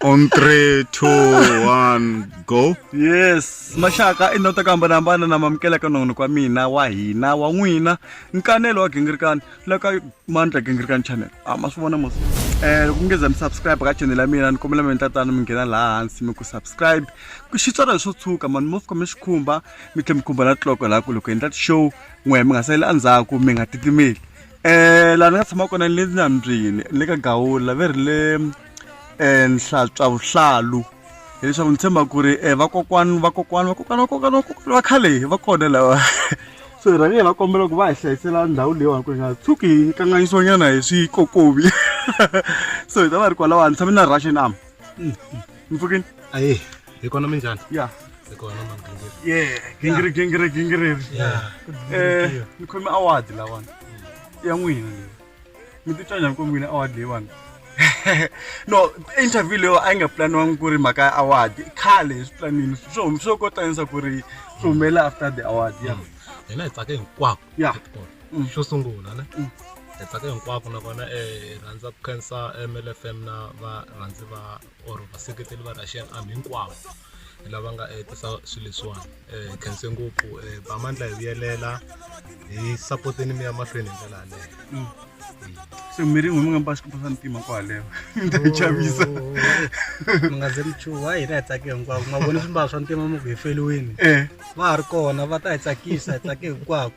on three two one go yes maxaka i ndhawu ta ku hambanahambana na mamukela ka nongonoko wa mina wa hina wa n'wina nkanelo wa gingirikani la ka mandla gingirikani channel a ah, ma swi vona mos um eh, loko mi nge za mi subscribe ka channel ya mina ni kombela mina tatana mi nghena laha hansi mi ku subscribe xitswalo leswo tshuka mani mo fika mi swi khumba mi tlhe mi khumba na tiloko laha ku loko endla ti-show n'wehe mi nga saleli endzhaku mi nga titimeli um laha ni nga tshama kona ni le nambyini ni le ka gawula ve ri le um eh, nhlatwa vuhlalu hileswaku ni tshemba ku ri um vakokwani vakokwani vakokwani vakokwani vakokwani va khale va kona lava so hi rhange hi va kombela ku va hi hlayisela ndhawu leyiwani ku ri nga tshuki hi kanganyisiwanyana hi swikokovi so hi ta va ri kwalawa ni tshame na russian arm mm, mm. mi pfukini ayi hi kona minjhani ya hi kona ye gingiri gingiri gingiriri um eh, ni khome awadi lawani ya n'wina leyi mi titwa njhani ku n'wina award leyiwani no interview leyo a yi nga planiwangi ku ri mhaka ya award khale hi swi planini swo hum- swo kotanisa ku ri swi humelela after the award ya hina hi tsake hinkwako ya Mm. xo sungula ne Mm. hi tsake hinkwako nakona eh, hi rhandza ku khensa mlfm na varhandzi va or vaseketeli va russian army hinkwavo lava nga eh, tisa swilo leswiwani eh, hi khense ngopfu eh, bamandla hi vuyelela hi sapoteni mi ya mahlweni hi ndlela yaleyo mm. se mi rin'we mi nga mba xikipa swa ntima kwaleyo mi ta yi chavisa oh, oh, oh, mi nga ze mi chuha hina hi tsake hinkwako ma voni swimbalo swa ntima mi ku hi feliwini va ha ri kona va ta hi tsakisa hi tsake hinkwako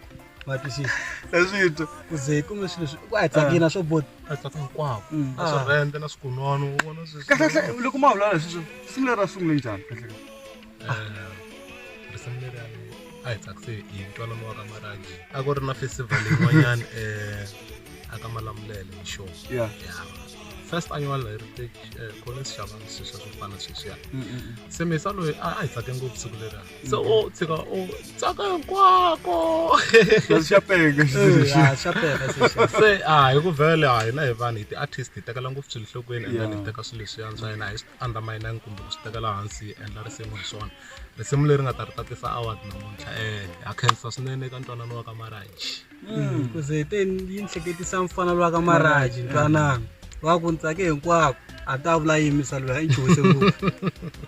matwisisa leswi twa ku ze ku nga swilo ku a tsakina swo bota a tsaka hinkwako Mm. na swirhende na swikunono u vona sweswi kahlekahle loko ma vulavula hi sweswo simu leri ra sungule njhani kahlekahle risimu leri a ni- a hi tsakise hi ntwanano wa ka maragi a ku ri na festival yin'wanyana um aka malamulele hi show ya first annual heritage eh, collins xavani sweswiya swo fana sweswiya se mesa loyi a a hi tsake ngopfu siku leriya se o tshika o tsaka hinkwako xa pega xa pega se a hi ku vele a hina hi vanhu hi ti-artist hi tekela ngopfu swilo nhlokweni and then hi teka swilo leswiya swa hina hi swi undermine-angi kumbe ku swi tekela hansi hi endla risimu hi swona risimu leri nga ta ri tatisa award namuntlha um ha khensa swinene eka ntwanano wa ka marriage kuze hi te yi ni hleketisa mfana lowa ka maraji ntwanana wa ku ni tsake hinkwako a ta vula yini misalo ya i chuhise ngopfu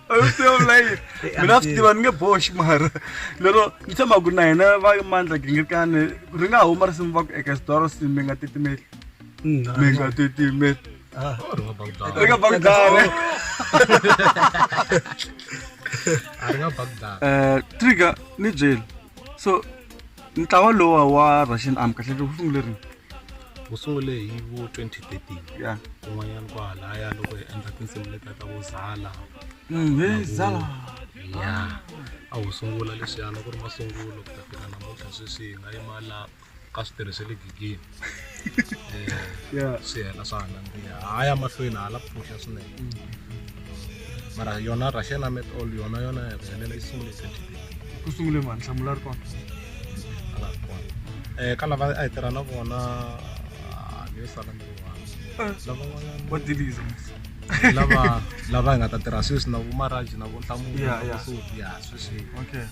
ayisiyolayini mina swi tiva ni nge boxi mara lero ni tshemba ku na hina va mandla gingirikani ri nga huma risimu va ku eka xidoro si mi nga titimeli Mm, ah, mi nga titimeli ah. ri nga bakudara eka bakudare a ri nga bakudara um trigger ni byeli so ntlawa lowa wa russian arm kahle wu sungule rini wu sungule hi vo 2013 ya kun'wanyana kwahalaya loko hi endla tinsimu letiya ta vo zala Mm, he zala ya a wu sungula leswiyana ku ri masungulo ku ta fika namuntlha sweswi hi nga yima la ka switirhi swa le gigini swi hela swa hangandziya ha ya mahlweni hala pfuhla swinene mara yona russian amet all yona yona ya ku helela yi sungule ku sungule mani hlamula ri kona um ka lava a hi tirha na vona ni yo sala ni riwana lavan'wanyana wadiliza lava lava hi nga ta tirha sweswi na vomaraji na vonhlamulo ya sweswi okay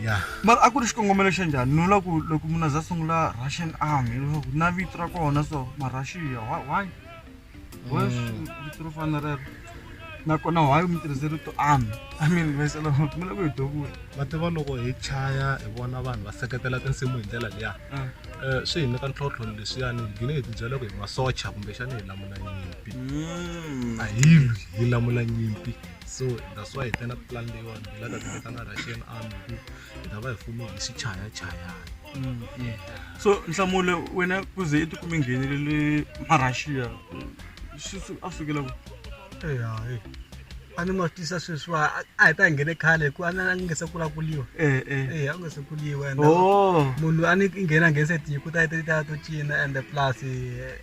ya mara a ku ri xikongomelo xa njhani ni vula ku loko munhu a za sungula russian army leswaku na vito ra kona so marussia why why mm. vito ro fana rero nakona why mi tirhise rito army i mean vesela mi loko hi dokula va tiva loko hi chaya hi vona vanhu va seketela tinsimu hi ndlela liya ah. eh, swi hi nyika ntlhontlho leswiyani hi gine hi tibyela ku hi masocha kumbexana hi lamula nyimpi mm. a hi lwi hi lamula nyimpi so that's why hi tena ku plan leyiwani hi lava ku vitana russian army ku hi ta va hi fume hi swichayachayana mm, so nhlamulo wena ku ze i tikumi nghenelele marussia a sukela ku eya e a ni ma tisa sweswiwa a hi ta nghene khale hi ku a ni nge se kula kuliwa eh, eh. eya a nge se kuliwa and oh. munhu a ni nghena nghenise tiko ta ta to cina and plus eh,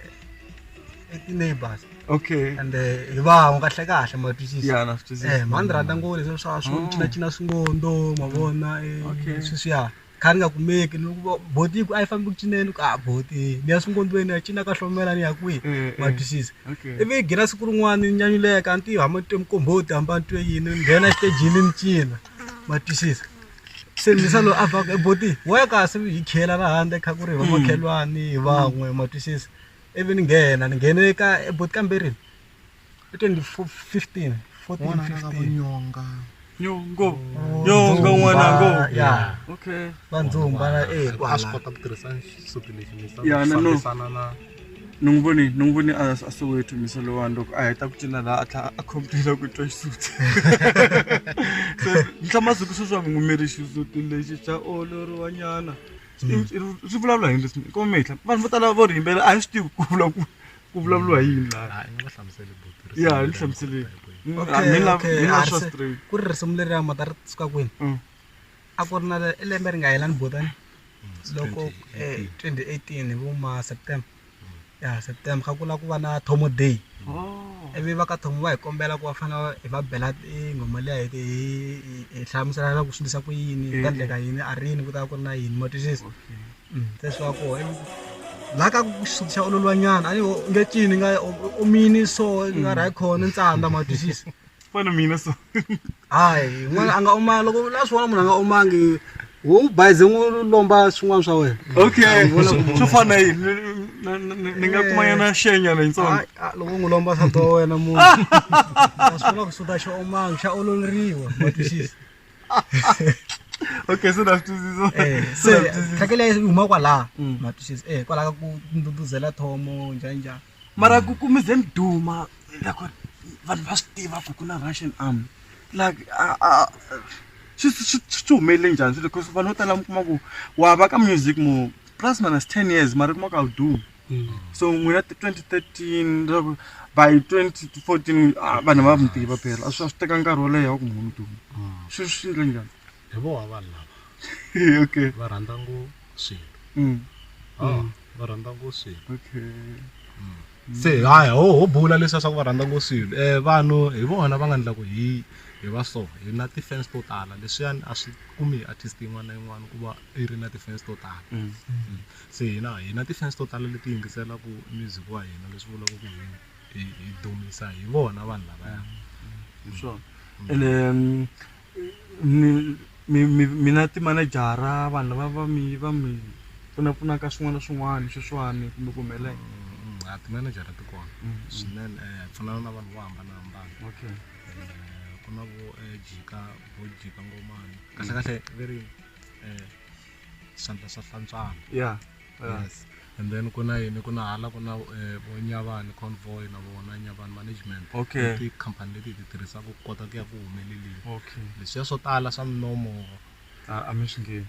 i ti-neighbors okay and eh, hi van'we kahle kahle ma twisisa ya na swi twisisa Eh, mhani rhandza ngo leswi swa swo Mm. cinacina swingondo mavona eh, Okay. sweswiya kha ni nga kumeki ni ku boti ku a yi fambi ku cineni ku a boti ni ya swingondweni ya cina ka hlomela ni ya kwihi Eh, eh. ma twisisa okay ivi hi ghina siku rin'wana ni nyanyuleka a ni tivi hamba ni twe mukomboti hamba ni twe yini ni nghena xitejini ni cina ma twisisa se ni sa loyi a vaka eboti wa ya kasi hi khela ra handle kha ku ri hi vamakhelwani hi van'we ma twisisa ivi ni nghena ni nghene ka ebot ka mbirhi i twenty fifteen fourteen fifteen nyonga nyongo nyongo n'wana ngo ya okay vandzumba na eh a swi kota ku tirhisa xisuti lexi ni fambisana na ni n'wi voni ni n'wi voni a a soweto misa lowani loko a heta ku cina laha a tlhela a khomputela ku twa xisuti se ni hlamaziku sweswi a mi n'wi miri xisuti lexi xa oloriwanyana swi vulavula hi leswi ko mehla vanhu vo tala vo ri yimbela a hi swi tivi ku vula ku ku vulavuriwa hi yini laha hayi ni va hlamuseli buti risimu ya hi leri hlamuseleni Mm, Okay, ah, mina- okay, mina a swa ri se- straight. ku ri risimu leri ya mata ri suka kwini Mm. a ku ri na le- lembe ri nga helani botani loko 2018. eh, 2018 hi vo ma september ya September kha ku lava ku va na Thomo day ivi va ka Thomo va hi kombela ku va fanele hi va bela tinghoma liya hi hi hlamusela na ku swi endlisa ku yini hi ta endleka yini a rini ku ta va ku ri na yini ma twisisa se swi va koho la ka ku xa ololiwa nyana a ni nge cini nga omini so nga ri hayi khona ni tsandza ma twisisa. fana mina so hayi n'wana a nga omanga loko la swin'wana munhu a nga omangi wo bayize n'wi lomba swin'wana swa wena okay swo fana yini ni nga kumanyana xenyana yitsongo loko n'wi lomba sati wa wena munhu a swi kona ku suta xa omanga xa ololeriwa matwisisa okay so ndasitwisisa eh, se tlhakela yi huma kwalaha mm. matwisisa e eh, kwalaha ka ku nduduzela thomo njhaninjhani mara ku ku mize mi duma loko vanhu va swi tiva ku ku na russian arm like swi swi swi humelele njhani swilo because vanhu vo tala mi kuma ku wa va ka music mo plus minus ten years mara kuma ku a wu dumi mm. so n'wina twenty thirteen leswaku by twenty fourteen vanhu va mi tiva phela a swi a swi teka nkarhi wo leha wa ku munhu duma mm. swi swi endle njhani hi voho vanhu lava okay va rhandza ngo swilo mm. ah, mm. va rhandza ngo swilo okay mm. se hayi ho ho bula leswi swa ku va rhandza ngo swilo um vanhu hi vona va nga ndla ku hi hi va so hi na ti-fans to tala leswiyani a swi kumi hi artist yin'wana na yin'wana ku va i ri na ti-fans to tala mm. Mm. se hina hi na ti-fans to tala leti yingiselaka music wa hina leswi vulaka ku hina hi dumisa hi vona vanhu lavaya mm. hi swona ene mina timanejara vanhu lava va mi va mi pfunapfunaka swin'wana na swin'wana sweswiwani kumbe ku humelela mm, mm, timanejara ti kona mm, swinene eh, hi pfunana na vanhu vo hambanahambana okay eh, ku na vo eh, jika vo jika ngomani kahlekahle ve ri um swandla swa hlantswana ya Yeah. yes and then ku na yini ku na hala ku na eh, vo nyavani convoy na vona nyavani management Okay. I tikhampani leti hi ti tirhisaka ku kota ku ya ku humeleleni okay leswiya swo tala swa minomo a a mi swi ngevi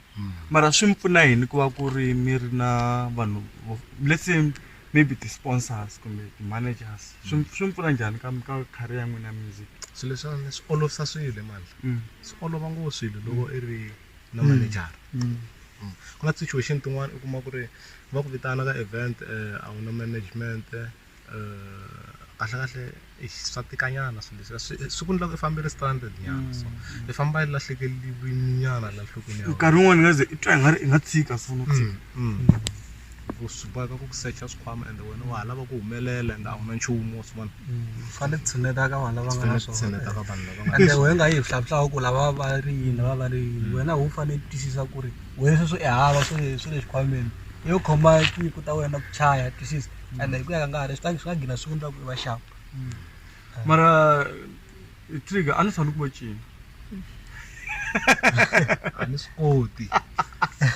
mara swi mi pfuna yini ku va ku ri mi ri na vanhu vo- let's say maybe ti-sponsors kumbe ti-managers swi mi- swi mi pfuna njhani ka ka career ya n'wina ya music swilo leswiwani swi olovisa swilo emandla Mm. swi olova ngopfu swilo loko i ri na mm. manager mm. mm. ku na situation tin'wana u kuma ku ri va ku vitana ka event eh, a wu na management eh, kahlekahle swa tikanyana swilo leswi siku ni loko i fambile stranded nyana so i famba i lahlekeliwi nyana la nhlokweni ya nkarhi wun'wana nga ze i twa i nga ri i nga tshika so no tshika swi boheka ku ku secha swikhwama ende wena wa ha lava ku humelela ende a wu na nchumu wa swi vona fanele tshineta ka vanhu lava nga na swona tshineta ka vanhu lava nga ende wena nga yi hlavuhlawu ku lava va ri yini va va ri yini wena wu fanele twisisa ku ri wena sweswi i hava swi le swi le xikhwameni yo khoma tinyiko ta wena ku chaya twisisa ende hi ku ya ka nkarhi swi ta swi nga gina swi vundza ku i va xava mara eh, trigger a ni tshani ku va cina a ni swi koti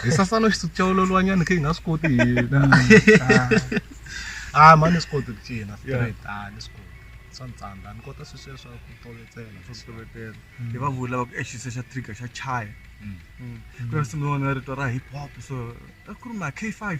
hi sasana xisuku xa ololwanyana khe hi nga swi koti hina a ma ni swi koti ku cina straight a ni swi koti swa ni tsandza ni kota swi sweswa ku tovetsela swa ku tovetela hi va vula va ku exisa xa trigger xa chaya Mm. ku na nsimu yin'wana ya rito ra hip hop so a ku ri ma k five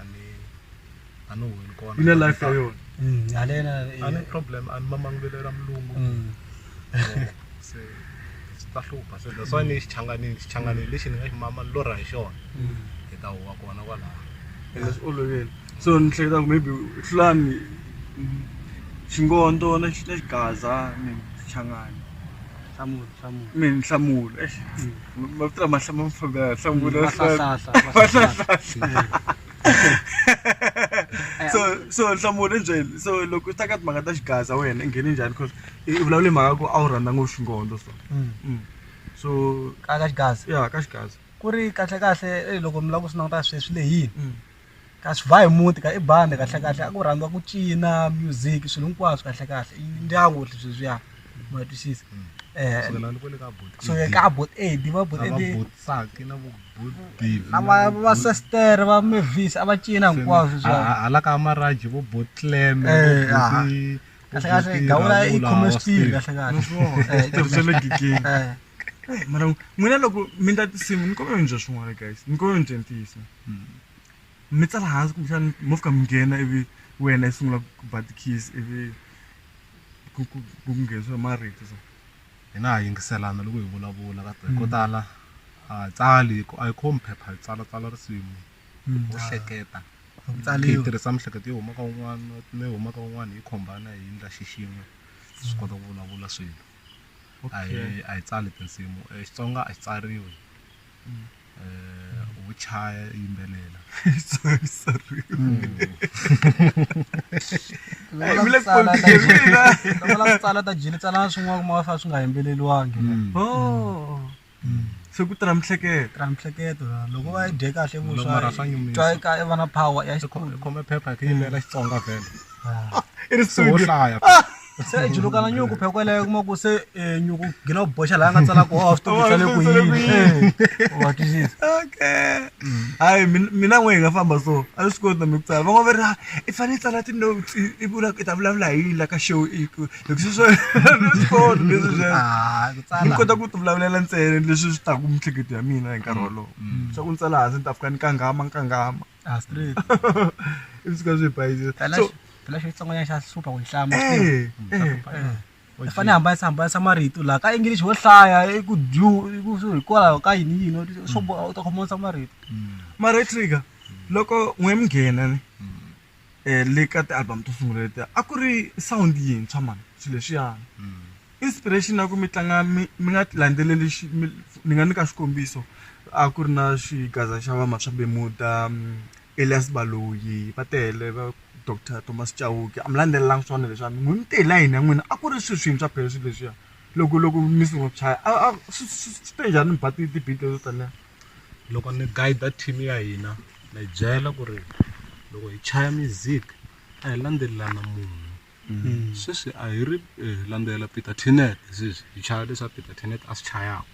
a ni a ni huheni kona ina life ya yona mm, halena a ni problem a ni mamangulelo ra mulungu mm. se swi ta hlupha se that's why ni xichanganini xichanganini lexi ni nga xi mama ni lorha hi xona hi ta huwa kona kwalaho ende swi olovile so ni hleketa ku maybe hlulani xingondo na xigaza ni xichangani hlamula hlamula mi ni hlamula mavito lama hlama mfambi ya hlamula Mm, mahlahlahla, mahlahlahla. so so nhlamulo i byeli so loko u ta ka timhaka ta xigaza wena i nghene njhani cause i i vulavule mhaka ku a wu rhandza ngopfu xingondo so Mm. Mm. so ka ka xigaza ya ka xigaza ku ri kahle kahle eh, loko mi lava ku swi languta sweswi lehini Mm. ka swi ba hi muti ka i bandi kahlekahle a ku rhandziwa ku cina music swilo hinkwaswo kahlekahle i ndyangu ri sweswiya ma twisisa so le ka bot aid va bot aid na va va sister va mavis a va cina hinkwaswo hala ka maraji vo bot clam kahlekahle gawula i khome switiri kahlekahle Hey, mara n'wina loko mi ndla tinsimu ni kombela mi ndla swin'wana guys ni kombela mi dyentisa hmm. mi tsala hansi kumbexani mo fika mi nghena ivi wena i sungula ku ba ti-keys ivi ku nghenisiwa hi marito so hina ha yingiselana loko hi vulavula ka ko hmm. tala a hi tsali a hi khomi phepha hi tsala tsala risimu hmm. u hleketa hi tirhisa mihleketo yo huma ka un'wana mi huma ka un'wana hi khombana hi ndla xixin'we swi kota ku vulavula swilo a hi Okay. a hi tsali tinsimu Eh, xitsonga a xi tsariwi Mm. Eh, wo chaya yimbelela Sorry, sorry. Loko vula ku tsala ta Tsala jili- loko vula ku tsala ta jili tsala na swin'wana kuma va fa swi nga yimbeleliwangi Oh. se ku tirha miehleketo tirha miehleketo loko va yi dye kahle vuxatwa ka i vana power ya xikhome phepha hi ku yimela xitsonga vhele ah. i ri swo hlaya ah. se i julukana nyuku pheko yeleyo kuma ku se eh, nyuku gina u boxa laha nga tsalaka wa swi tivisa le ku yini eh, wa twisisa okay mm. hayi mina n'we hi nga famba so a swi koti na mi ku tsala van'wana va ri ah, i fanele i tsala ti-notes i vula i ta vulavula hi yini la ka show leswi swo swi kona leswi swi Ah, ku tsala. ni kota ku ti vulavulela ntsena leswi swi taku miehleketo ya mina hi nkarhi wolowo swa ku ni tsala hansi ni ta fika ni kangama ni kangama Ah, straight. ivi swi ka swi hi bayizisa Phela so xi- phela xo xitsongwanyana xa hlupha ku yi hlama eh eh eh i fanele hambanisa hambanisa marito laha ka english wo hlaya i ku dyu i ku swi- hikwalaho ka yini yini u- swo bo- u ta khomanisa marito mara trigger loko n'we mi nghena ni eh, le ka ti-album to sungula letiya a ku ri sound yintshwa mani swilo leswiyani mm. inspiration ya ku mi tlanga mi nga landzeleli ni nga nyika xikombiso a ku ri na xigaza xa va maswabemuda mm, elias baloyi va tele va dr thomas chauke a mi landzelelangi swona leswiani n'wi mi tele yini ya n'wina a ku ri swi swintshwa phela swilo leswiya loko loko mi sungula ku chaya swi te njhani mi ba ti-beat leto taniya loko ni guide team ya hina na yi byela ku ri loko hi chaya music a hi landzelelana munhu sweswi a hi ri eh, hi landzelela peter tinet sweswi hi chaya leswa peter tinet a swi chayaka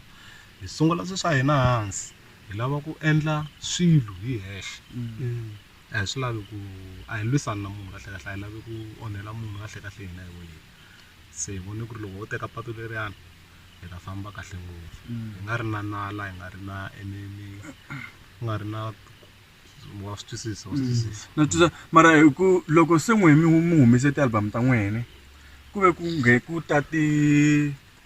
hi sungula swi swa hina hansi hi lava ku endla swilo hi hexe a hi swi lavi ku a hi lwisani na munhu kahlekahle a hi lavi ku onhela munhu kahlekahle hina hi wehe se hi vone ku ri loko ho teka patu leriyani hi ta famba kahle ngopfu hi nga ri na nala hi nga ri na enini ku nga ri na wa swi twisisa wa swi twisisa na twisisa mara hi ku loko se n'we mi hu- mi humese ti-album ta n'wene ku ve ku nghe ku ta ti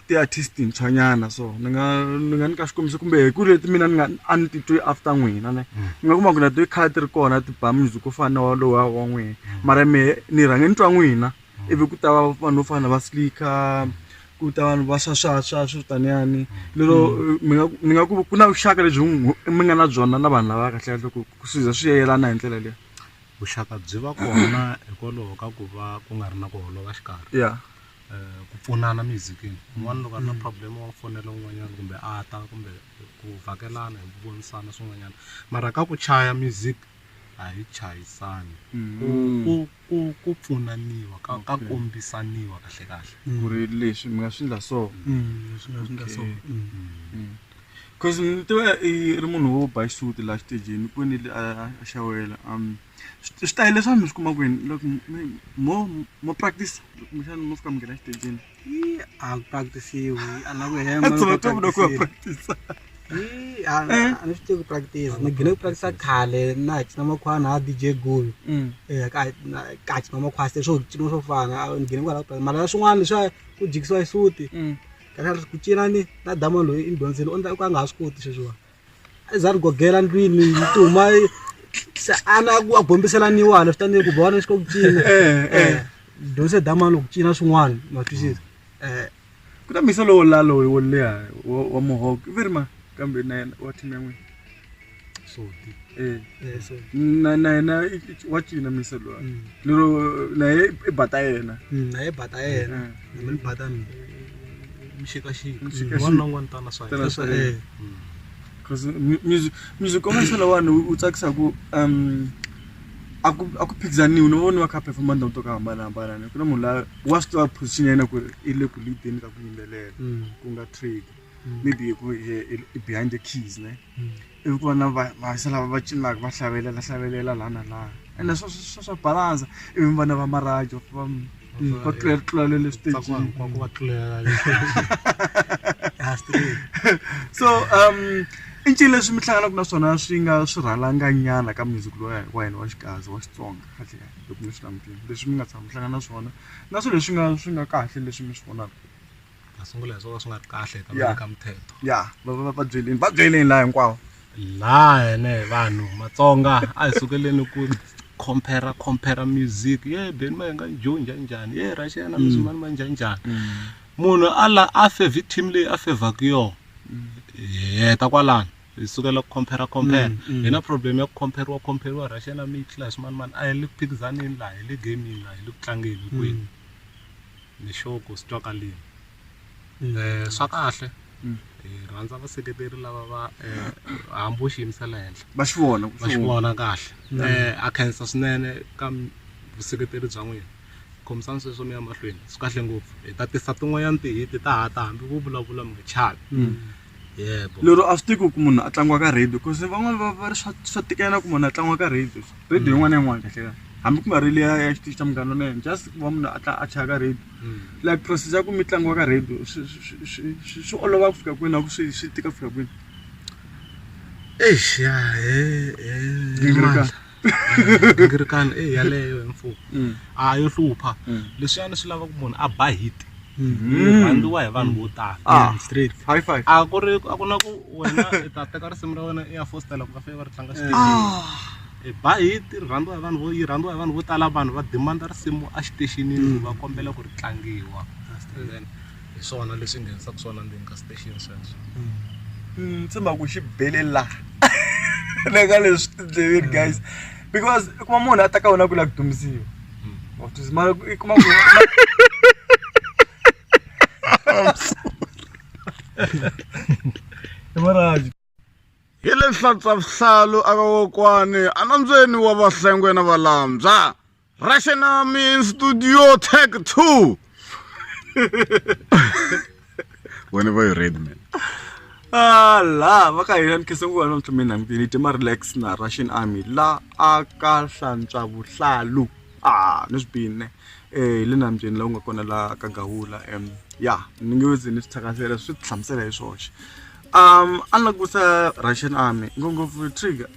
ti-artist ntshwanyana so ni nga ni nga nyika xikombiso kumbe hi ku leti mina ni nga a ni titwi after n'wina ne ni nga kuma ku na ti khale ti ri kona ti ba music wo fana na walowo wa wa n'wina mara mehe ni rhange ni twa n'wina ivi ku ta va vanhu vo fana na va slicker ku ta vanhu va swaswaswa swi vitaniyani lero mi nga ni nga ku ku na vuxaka lebyi mi nga na byona na vanhu lava kahle kahle ku ku swi za swi yelana hi ndlela leyi vuxaka byi va kona hikwalaho ka ku va ku nga ri na ku holova xikarhi ya um ku pfunana mizikini un'wana loko a ri na problem wa fonela un'wanyana kumbe a ta kumbe ku vhakelana hi vonisana swin'wanyana mara ka ku chaya music a hi chayisani mm. ku ku ku pfunaniwa ka ka kombisaniwa kahle kahle ku ri leswi mi nga swi ndla so mm, leswi nga swi ndla so mm. cause ni tiva i ri munhu wo ba xisuti laha xitejini kwini a xawela um switayele leswi vanhu mi swi kuma kwini loko mo mo practice kumbexana mo fika mi nghena xitejini a ku practisiwi a la ku hemapractisa a ni swi tivi ku practice ni gine ku practisa khale na ha cina makhwana ha dj gul mm. e ka ka cina makhwasi leswo cina swo fana ni gine kwala ku mara swin'wana leswa ku jikisiwa xisuti mm. ka ku cina ni na dama loyi i ni dyondzile u nga ha swi koti sweswiwani a za ri gogela ndlwini yi ti huma se ana a gombisela niwana swi tanihi ku vona xi ka ku cina dyondzise damani ku cina swin'wana ma twisisa um ku na misa lowo lalo wo leha wa muhoko i veri ma kambe na yena wa team ya n'wina soti na na yena wa cina misa lowa lero na ye i bata yena na ye bata yena ni mi badani mixikaxika Mixikaxika. wani na wun'wani tana swa Tana swa yena. yena. Cause mu- music music commercial wani wu wu tsakisa ku um a ku a ku phikizaniwi ni vona va kha performa ndhawu to ka hambanahambana ni ku na munhu la wa swi tiva position ya yena ku ri i le ku leadeni ka ku yimbelela Mm. ku nga trade Mm. maybe ku i- i- i behind the keys ne Mm. i vona vahisa lava va cinaka va hlavelela hlavelela laha na laha ene swa swa swa balansa ivi vana va marajo va va tlulela tlulele le stagini so um i ncini leswi mi hlanganaka na swona swi nga swi rhalanganyana ka music loya wa hina wa xikazi wa xitsonga kahle kahle loko mi swi langutile leswi mi nga tshama mi hlangana na swona na swilo leswi nga swi nga kahle leswi mi swi vonaka masungulo ya swona swi nga ri kahle eka Yeah. ka muthetho ya va va va byeleni va byeleni laha hinkwawo laha hene vanhu matsonga a hi sukeleni ku compare compare music ye beni ma nga jo njhani njhani ye russia na muzimani ma njhani njhani munhu a la a favor team leyi a favaka yona hi heta kwalano hi sukela ku compare compare hi na problem ya ku compare compare russia na mitla hi swimani mani a hi le ku phikizaneni laha hi le gamini laha hi le ku tlangeni hinkwenu ni sure ku swi twakalini um swa kahle Mm. hi rhandza vaseketeri lava va um hambi u xiyimisa le henhla va swi vona ku va swi vona kahle um a khensa swinene ka m- vuseketeri bya n'wina khomisani sweswo mi ya mahlweni swi kahle ngopfu hi ta tisa tin'wanyana tihiti ta ha ta hambi vo vulavula mi nga chavi yebo lero a swi tiki ku munhu a tlangiwa ka radio because van'wana va va ri swa swa tikela ku munhu a tlangiwa ka radio radio yin'wana na yin'wana kahle kahle hambi ku nga ri leya ya xitichi xa munghana lonene just ku va munhu a tla a chaya ka radio Mm. like process ya ku mi tlangiwa ka radio swi- swi- swi- swi swi olova ku fika kwini a ku swi swi tika ku fika kwini eish ya he he Gingirikani. mandla. gingirikani e yaleyo hi mfumo Mm. a yo hlupha Mm. leswiyani swi lava ku munhu a ba hit Mm. rhandziwa hi vanhu vo tala Ah. straight high five a ku ri a ku na ku wena i ta teka risimu ra wena i ya fostela ku va fee va ri tlanga xitexini i ba hit ri rhandziwa hi vanhu vo yi rhandziwa hi vanhu vo tala vanhu va demanda risimu a xitexinini va kombela ku ri tlangiwa And then hi swona leswi nghenisaka swona ndzeni ka station sweswo ndzi mhaka ku xi bele laha le ka leswi tindleveni guys because i kuma munhu a ta ka wena ku la ku dumisiwa wa swi tiva, mara i kuma ku i maraji Hi le nhlantswa-vuhlalu a ka kokwani a nambyeni wa vahlengwe na valambya raxenami studio tag 2 wena va yi red man Ah, la va ka hina ni khese nguva namuntlha mina mbili ti ma relax na russian army la a ka hlantswa vuhlalu a ni swi bini eh le nambyeni la u nga kona la ka gahula em ya ni nge ze ni swi thakasela swi ti hlamusela hi swoxe um a ni langutisa russian army ngopfungopfu trigger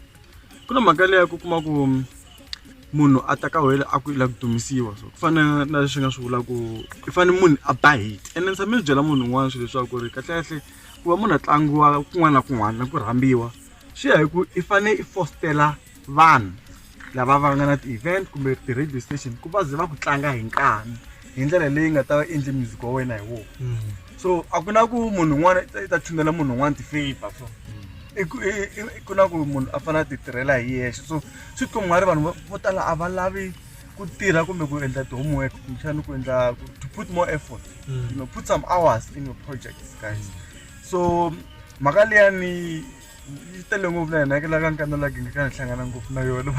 ku na mhaka leyi ku kuma ku um, munhu a ta ka wele a ku ila ku dumisiwa so ku fana na leswi nga swi vula ku i fane munhu a ba hit and ni tshame ni byela munhu un'wana swilo leswaku ri kahlekahle ku va munhu a tlangiwa kun'wana na kun'wana na ku rhambiwa swi ya hi ku i fane i fostela vanhu lava va nga na ti-event kumbe ti-radio station ku va ze va ku tlanga hi nkani hi ndlela leyi nga ta va endli music wa wena hi wona mm. so a ku na ku munhu un'wana i ta tshunela munhu un'wana ti-favor so mm. ku na ku munhu a fanele a ti tirhela hi yexe so swi twa nga ri vanhu vo tala a va lavi ku tirha kumbe ku endla ti-homework kumbexana ku endla to put more effort mm. you know put some hours in your projects guys so mhaka leyani yi tele ngopfu na hina la ka nkanda la gingaka ni hlangana ngopfu na yona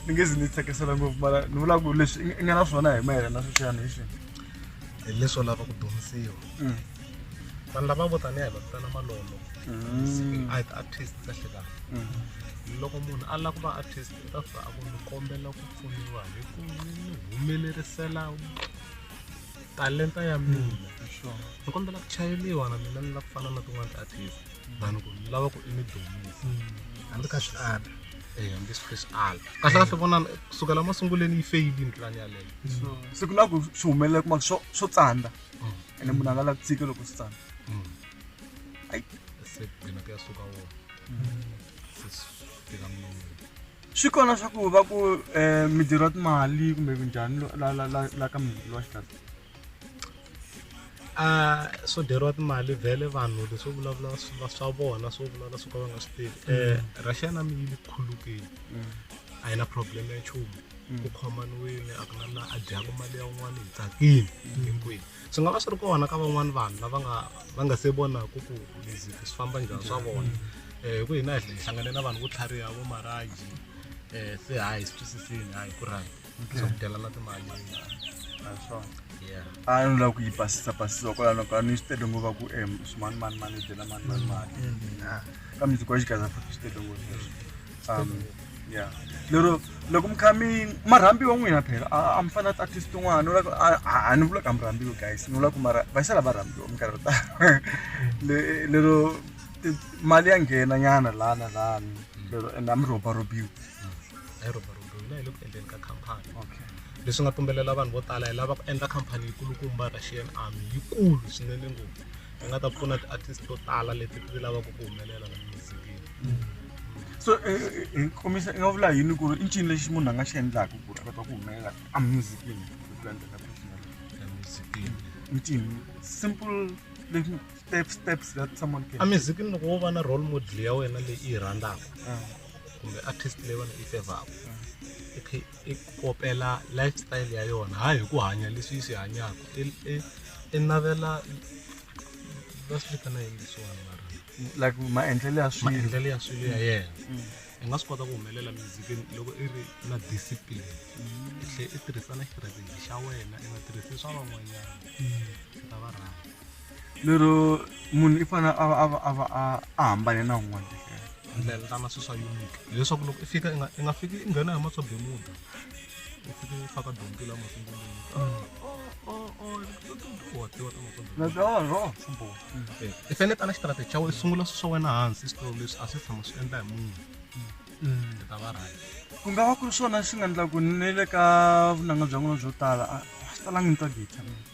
ni nge zi ni tsakisela ngopfu mara ni vula ku leswi i nga na swona hi mayelana na sweswiyani hi swi hi leswo lava ku dyondzisiwa mm. vanhu lava vo taniya hi va vitana malolo mm. a hi ti-artist kahle kahle mm. loko munhu a lava ku va artist u ta fika a ku ni kombela ku pfuniwa hi ku ni humelerisela talenta ya mina ni kombela ku chayeliwa na mina ni lava ku fana na tin'wana ti-artist than ku ni lava ku i ni dumisa hambi ka swi ala Eh, hambi swi swi ala kahle kahle vonana kusukela masunguleni yi feyilini plan yaleyo se ku na ku swi humelela kuma swo swo tsandza Mm. ene munhu a nga la ku tshika loko swi tsandza Mm. Ai. se gcina kuyasuka wona sesifika mina swi kona swa ku va ku um mi dyeriwa timali kumbe kunjhani la ka munhu lowa xitata a swo dyeriwa timali vhele vanhu leswo vulavula swa vona swo vulavula swo ka va nga swi tivi um mm. eh, russia na mi yi le khulukile mm. a yi na problem ya nchumu mm. ku khomaniwile a ku na la a dyaka mali ya un'wana hi tsakile hinkwenu swi nga va swi ri kona ka van'wani vanhu lava nga va nga se vonaku ku leswi swi famba njhani swa vona um ku hina hi hlangane na vanhu vo tlhariha vo maraji um se hayi swi twisisini hayi ku right swa ku dyelana timali naswona yeah a ni lava ku yi basisa basisa kwalano ka ni swi tele ngova ku em swimanimani mani dyela mani mani mali kambe ndzi kwa xigaza futhi swi tele ngopfu um ya lero loko mi kha mi marhambiwa n'wina phela a mi fanele a tisi tin'wana u a ni vulaka mi rhambiwa guys ni vula ku mara va xala va rhambiwa minkarhi yo tala lero mali ya nghena nyana laha na laha lero ende a mi robarobiwi a yi robarobiwi na hi le ku endleni ka khampani okay leswi nga pfumelela vanhu vo tala hi lava ku endla khampani yikulukumba russian army yikulu swinene ngopfu ni nga ta pfuna ti-artist to tala leti ti lavaka ku humelela la muzikini so eh, eh, komisa i nga vula yini ku ri i ncini lexi munhu a nga xi endlaka ku ri a kota ku humelela a musicini ncini simple leswi step steps that someone can a muzikini loko wo va na role model ya wena leyi i yi rhandzaka ah. kumbe artist leyi wena i fevaka ah. i ku kopela lifestyle ya yona hayi hi ku hanya leswi yi swi hanyaka i i i navela va swi vitana yini leswiwani mara like maendlelo ya swilo maendlelo ya swilo ya yena i nga swi kota ku humelela mizikini loko i ri na discipline i tlhe i tirhisa na xirhakeji xa wena i nga tirhisi swa van'wanyana i ta va rhanda lero munhu i fanele a va a va a va a a hambane na un'wana ndlela ndlela ta masiku swa unique leswaku loko i fika i nga i nga fiki i nghena hi maswa bemuda i fike i faka dyondzo la masungulweni i fanele tala xitrategi xa wena i sungula swi swa wena hansi switolo leswi a swi tshama swi endla hi munhu i ta va right ku nga va ku ri swona swi nga endlaku ni le ka vunanga bya n'wina byo tala a a swi talangi ni twa geta mina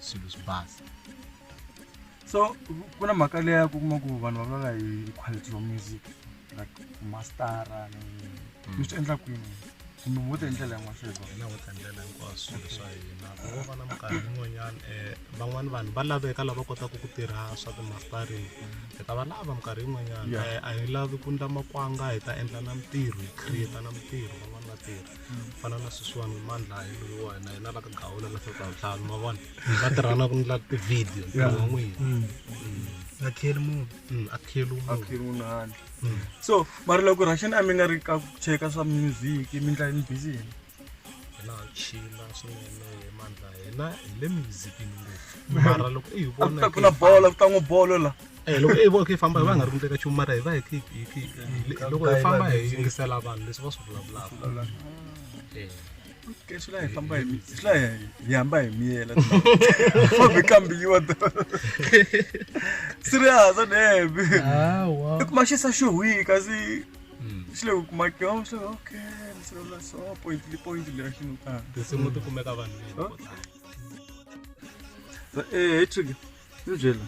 swilo swi basa so ku na mhaka leya ku kuma ku vanhu va vulavula hi quality of music like mastara ni mm. ni swi endla kwini kumbe mo ta hi ndlela yin'wana sweswo hina ho ta ndlela hinkwaswo swilo swa hina vo va na minkarhi yin'wanyana um eh, van'wani vanhu va laveka lava kotaka ku tirha swa timastarini hi ta va lava minkarhi yin'wanyana eh, a hi lavi ku ndla makwanga hi ta endla na mintirho hi creata na mintirho van'wani va tirha fana na sweswiwani mandla hi loyiwa hina hina la ka gawula la feka vutlhanu ma vona va tirhana ku ndla tivhidiyo ntirho wa n'wina mm. mm. akheli munhu mm, akheli akheli munhu handle so mara loko rasheni a mi nga ri ka ku cheka swa music mi ndla yini busy yini hina ha chila swinene hi mandla hina hi le muzikini ngopfu mara loko i hi vona ku ta ku na bolo ku ta n'wi bolo la Eh, loko i vona ku yi famba hi va nga ri ku ndleka nchumu mara hi va hi khi- hi khi- hi- hi- loko hi famba hi yingisela vanhu leswi va swi vulavulaka Eh. Ke swi la hi famba hi mi- swi la hi hi hamba hi miyela fambi kambiwa serious a nebe hawa i kuma xi sa xo hwi kasi xi le ku kuma ke oh, xi le okay ni se la so point li point li ra xi no ta tinsimu ti kumeka vanhu Huh? eh hi trick ni byela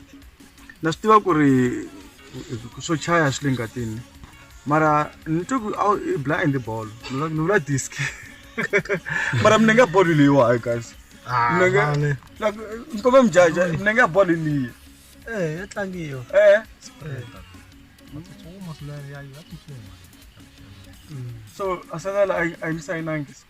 na swi tiva ku ri swo chaya swi le ngatini mara ni twe ku i blind bolo ni vula disk mara mina nga bolo leyiwa hayi kasi ni kombe mujaja mina nga bolo leyi eh ya tlangiwa eh so asala la ayimsayinangi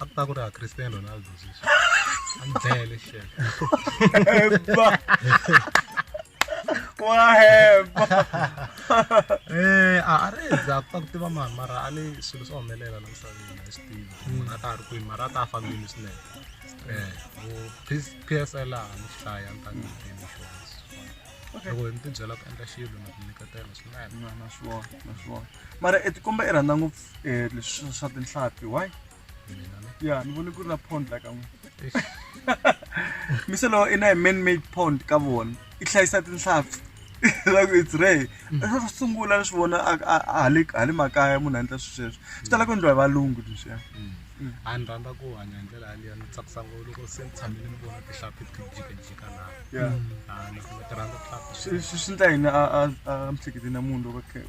a ku ta ku ri ha Cristiano Ronaldo sweswi a ni bele shit hemba wa hemba eh a a ri za ku ta ku tiva mani mara a ni swilo swa humelela la misaveni a swi tivi munhu a ta ha ri kwini mara a ta a fambile swinene eh u PSL a ni hlaya ni ta ni tivi xona loko ni tibyela ku endla xilo na ku nyiketela swinene na na swona na swona mara e tikomba i rhandza ngopfu eh, leswi swa tinhlampfi why ya ni vone ku ri na pond la ka n'wina mise lowo i na hi man made pond ka vona i hlayisa tinhlampfi like it's rare ro ro sungula ni swi vona a- a- a- hale hale makaya munhu a endla swi sweswo swi tala ku endliwa hi valungu leswiya a ni rhandza ku hanya hi ndlela yaliya ni tsakisa ngopfu loko se ni tshamile ni vona tihlampfi ti jikajika laha ya Ah, ni ti rhandza tihlampfi swi swi- swi ndla yini a a a mihleketeni ya munhu loko a khe-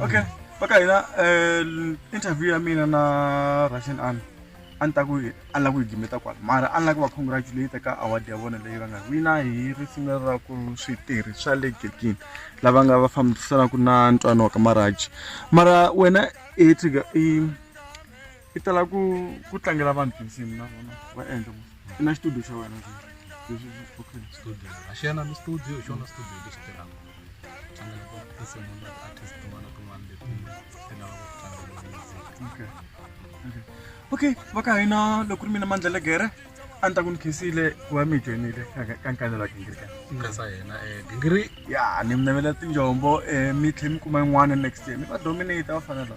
okay va ka hina um interview ya mina na russian army a ni ta ku a ni lava ku yi gimeta kwala mara a ni lava ku va congratulate ka award ya vona leyi va nga wina hi risimu leri ra ku switirhi swa le gekini lava nga va fambisanaka na ntwano wa ka maraji mara wena i i tala ku ku tlangela vanhu tinsimu na vona va endla i na xitudio xa wena studio a xi yana ni studio hi xona studio lexi tirhaka tlangela tinsimu na ti-artist tin'wana tin'wana leti ti lavaka ku tlangela music okay va ka hina loko ri mina mandla legere a ni ta ku ni khisile ku va mi joinile ka nkanelo wa gingiri kasa yena um eh, gingiri ya ni mi navela tinjombo um mi tlhe mi kuma yin'wana next year mi va dominate va fanela